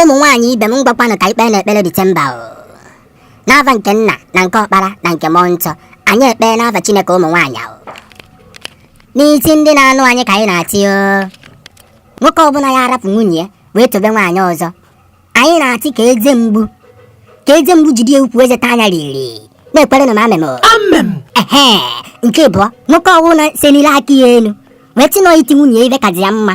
ụmụ nwaanyị ibe m ngwakwanụ ka e kpeenụ ekpere disemba o n'ava nke nna na nke ọkpara na nke mmụọ nsọ anyị ekpee n'ava chineke ụmụ nwaanyị ahụ n'isi ndị na-anụ anyị ka anyị na-atị o nwoke ọbụla ya-arapụ nwunye ya wee tobe nwaanyị ọzọ anyị na-atị ka eze mgbu ka eze mgbu jide ukwu eze taa anya riri na-ekwere na m amem o amem ehe nke ịbụọ nwoke ọbụla senile aka ya elu wee tị na ọ iti nwunye ya ive kazi ya mma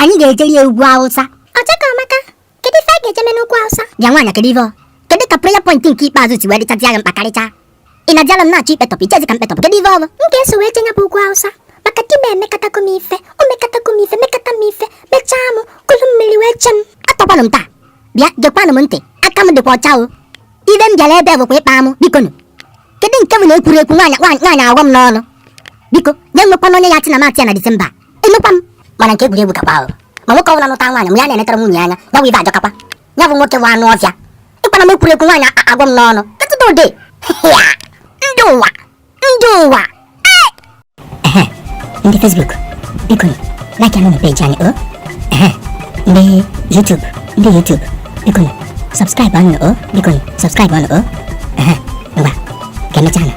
anyị ga-ejeri ya ugwu awụsa ọchaka ọmaka kedu ife a ga-eje me n'ugwu awụsa bịa nwaanyị kedu ife kedu ka prayer point nke ikpeazụ si wee dịchazi agha mkpa karịcha ị na diala m na-achọ ikpetọpụ ichezi ka m kpetọpụ kedu ife ọrụ m ga-eso wee jenye bụ ugwu awụsa maka di m emekatago m ife o mekatago m ife mekata m ife mechaa m kụlụ mmiri wee chee m atọkwanụ m taa bịa gekwanụ m ntị aka m dịkwa ọcha o ive m bịara ebe bụkwa ịkpa amụ biko nụ kedu nke m na-ekwuru ekwu nwaanyị nwaanyị agwa m n'ọnụ biko nụ e nwekwana onye ya-achị na matị ya na disemba emekwa m mana nke egwuregwu kakwa ahụ ma nwoke ọbụla nụta nwaanyị mgbe ya na-enetara nwunye anya ya bụ ive ajọkakwa ya bụ nwoke bụ anụ ọvịa ịkpana m ekwurekwu nwaanyị agwa m n'ọnụ ketụdode ndị ụwa ndị ụwa ndị Facebook biko like anụ na peji anyị o ndị YouTube ndị YouTube biko subscribe anụ o biko subscribe anụ o ngwa ka emechaa